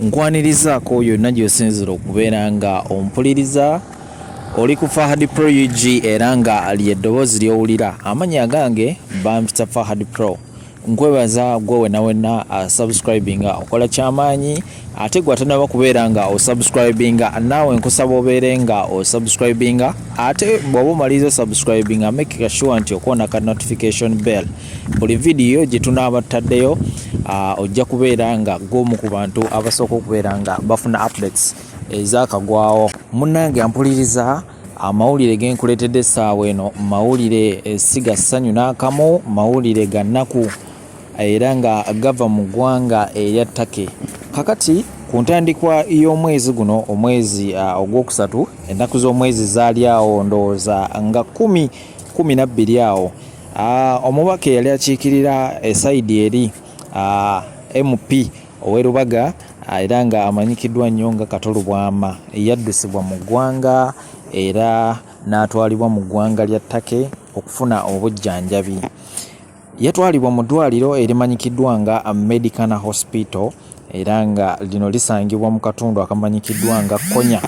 Nkwanirizaako yonna gy'osinzira okubeera nga ompuliriza oli ku Fahad Pro UG era nga lye ddoboozi ly'owulira amannya agange bampita Fahad Pro nkwebaza gwe wena wena uh, subscribinga okola kyamaanyi ate gwe atanaba kubeera nga osubscribinga naawe nkusaba obeere nga osubscribinga ate bw'oba omaliriza osubscribinga make sure nti okoona ka notification bell buli vidiyo gye tunaaba tutaddeyo ah, ojja kubeera nga gwomu ku bantu abasooka okubeera nga bafuna updates ezakagwawo munnange ampuliriza amawulire genkuleetedde essaawa eno mawulire eh, si ga ssanyu n'akamu mawulire ga nnaku era nga gava mu ggwanga erya take kakati ku ntandikwa y'omwezi guno omwezi ah, ogwokusatu ennaku z'omwezi zaali awo ndowooza nga kumi kumi nabbiri awo Ah, omubaka eyali akiikirira esaidi eh, eri ah, mp ow'e Lubaga ah, era nga amanyikiddwa nnyo nga Kato Lubwama yaddusibwa mu ggwanga era n'atwalibwa mu ggwanga lya Take okufuna obujjanjabi. Yatwalibwa mu ddwaliro erimanyikiddwa nga Medicana Hospital era nga lino lisangibwa mu katundu akamanyikiddwa nga Konya.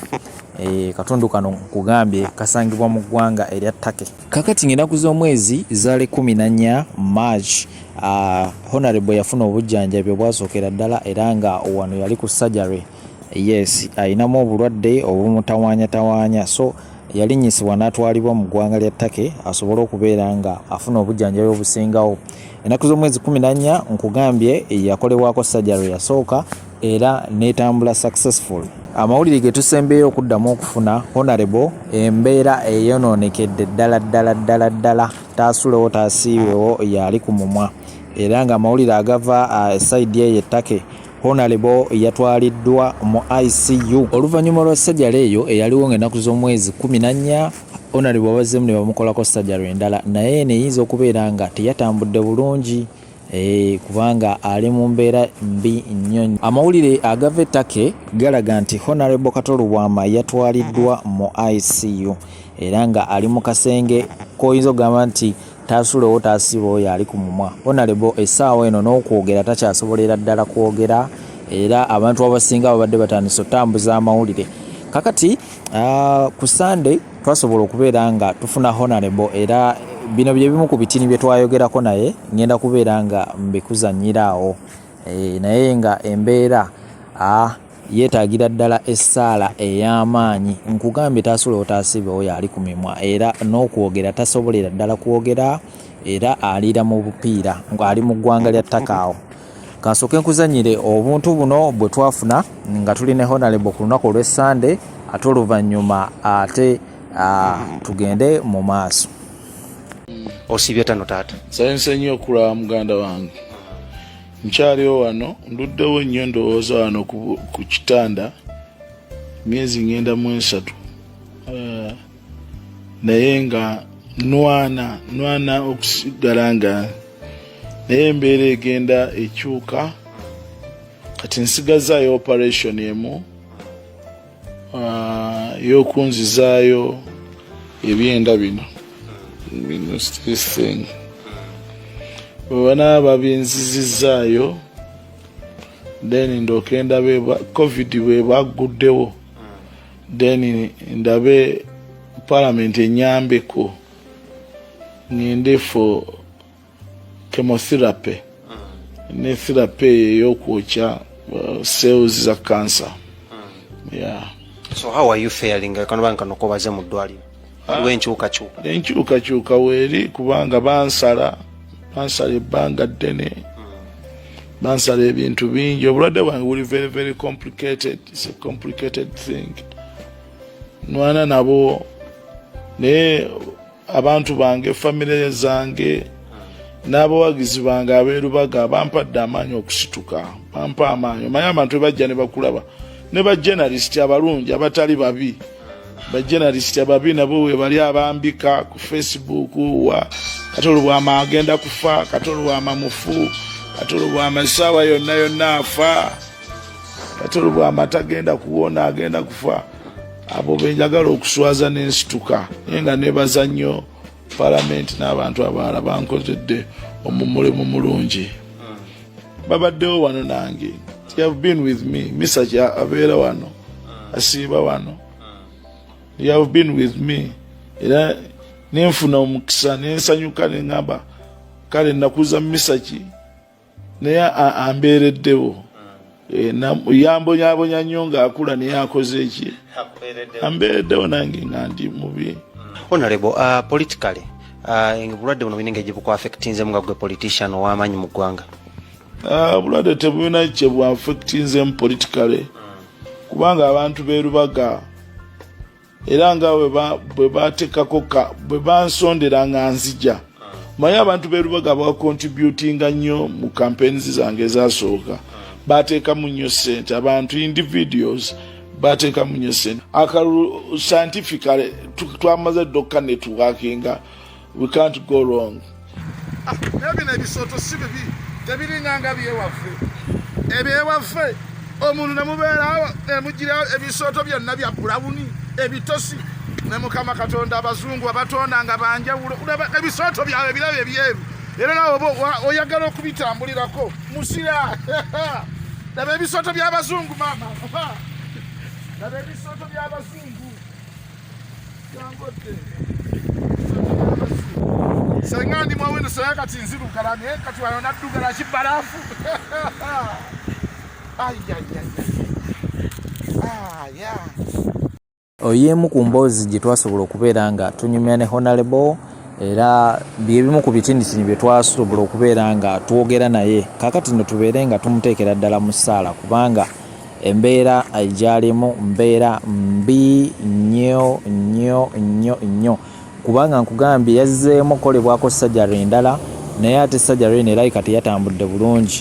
Eh, katundu kano nkugambye kasangibwa mu ggwanga erya Take. kakati ng'enaku z'omwezi zaali kumi na nnya march uh, honorable yafuna obujjanjabi obwasookera ddala era nga wano yali ku surgery yes alinamu obulwadde obumutawanyatawanya so yalinyisibwa n'atwalibwa mu ggwanga lya take asobole okubeera nga afuna obujjanjabi obusingawo enaku z'omwezi kumi na nnya nkugambye yakolebwako surgery yasooka era netambula successful. Amawulire getusembeyo okuddamu okufuna honorable embeera eyononekedde ddala ddala ddala ddala taasulewo taasiiwewo yaali ku mumwa era nga amawulire agava e saidi eyo ettake honalebo yatwaliddwa mu icu oluvannyuma lwa sajala eyo eyaliwo nga ennaku z'omwezi kumi nannya honalebo abazzemu ne bamukolako sajala endala naye eno eyinza okubeera nga teyatambudde bulungi Eeh kubanga ali mu mbeera mbi nnyo. Amawulire agava e Turkey galaga nti Honorable Kato Lubwama yatwaliddwa mu ICU era nga ali mu kasenge k'oyinza okugamba nti taasulewo taasiba oyo ali ku mumwa. Honorable essaawa eno n'okwogera takyasobolera ddala kwogera era abantu abasinga babadde batandise otambuza amawulire kakati. Uh, ku Sunday twasobola okubeera nga tufuna honorable era bino bye bimu ku bitini bye twayogerako naye ngenda kubeera nga mbikuzanyira awo e, naye nga embeera ah, yeetaagira ddala essaala ey'amaanyi nkugambye taasula otaasibe oyo ali ku mimwa era n'okwogera tasobolera ddala kwogera era aliira mu bupiira ng'ali mu ggwanga lya takaawo Kansooke nkuzanyire obuntu buno bwe twafuna nga tuli ne Honalebo ku lunaku olw'Essande ate oluvannyuma ate tugende mu maaso. Osiibye tano taata. Nsanyuse nnyo okulaba muganda wange. Nkyaliwo wano nduddewo nnyo ndowooza wano ku kitanda myezi ngenda mu esatu. naye nga nwana nwana okusigala nga naye embeera egenda ekyuka kati nsigazaayo operation emu ah, yokunzizaayo ebyenda bino bino stething webana babinzizizaayo then ndoke ndabe covid bwebagguddewo then ndabe parliament enyambeko ngende for chemotherapy mm. ne therapy eyokwokya uh, cells za cancer mm. yeah. so how are you failing kanobankanokobazemu ddwaliro waliwo ah, enkyukakyuka enkyukakyuka weeri kubanga bansala bansala ebbanga ddene bansala ebintu bingi obulwadde bwange buli very very complicated its a complicated thing nwana nabo naye abantu bange famire zange n'abawagizi bange abeerubaga bampadde amaanyi okusituka bampa amaanyi omanyi abantu ebajja ne bakulaba ne bajenalisiti abalungi abatali babi bajenalisiti ababi nabo webali abambika ku facebook wa kati olubwama agenda kufa kati olubwama mufu kati olubwama esaawa yonna yonna afa kati olubwama tagenda kuwona agenda kufa abo benjagala okuswaza nensituka naye nga nebaza nnyo palamenti n'abantu abaala bankozedde omumulimu mulungi babaddewo wano nange have been with me misaja abeera wano asiiba wano you have been with me era nenfuna omukisa nensanyuka neŋamba kale nakuza misaki naye ambeereddewo Eh, yambonyabonya nnyo ng'akula naye akoze eki ambeereddewo nange nga ndi mubi onalebo uh, politicaly uh, obulwadde buno bulina engeri gyebukwafectinzemu nga gwe politician ow'amaanyi mu ggwanga uh, obulwadde tebulina kyebwafectinzemu politicaly kubanga abantu berubaga era nga bwe batekako ka bwe bansondera nga nzija manyi abantu berubaga bakontributinga nnyo mu campaigns zange ezasooka bateekamu nnyo sente abantu individuals bateekamu nnyo sente akalulu scientificale twamaze ddokuka networkinga we can't go wrong ah, naye bino ebisooto si bibi tebiringanga byewaffe ebyewaffe omuntu nemubeerawo nemugirawo ebisooto byonna bya bulawuni ebitosi ne mukama katonda abazungu abatonda nga banjawulo ebisooto byabwe birabo ebyeru era nawe oyagala okubitambulirako musira laba ebisooto by'abazungu maama laba ebisooto by'abazungu senga ndi mwawendo saya kati nziru kalani eh, kati wano nadduka na kibalafu oyo emu ku mboozi gye twasobola okubeera nga tunyumya ne honalebo era byebimu ku bitinitini bye twasobola okubeera nga twogera naye kakati no tubeere nga tumuteekera ddala mu ssaala kubanga Embeera gy'alimu mbeera mbi nnyo nnyo nnyo nnyo kubanga nkugambye yazzeemu okukolebwako sajari endala naye ate sajari eno erabika teyatambudde bulungi.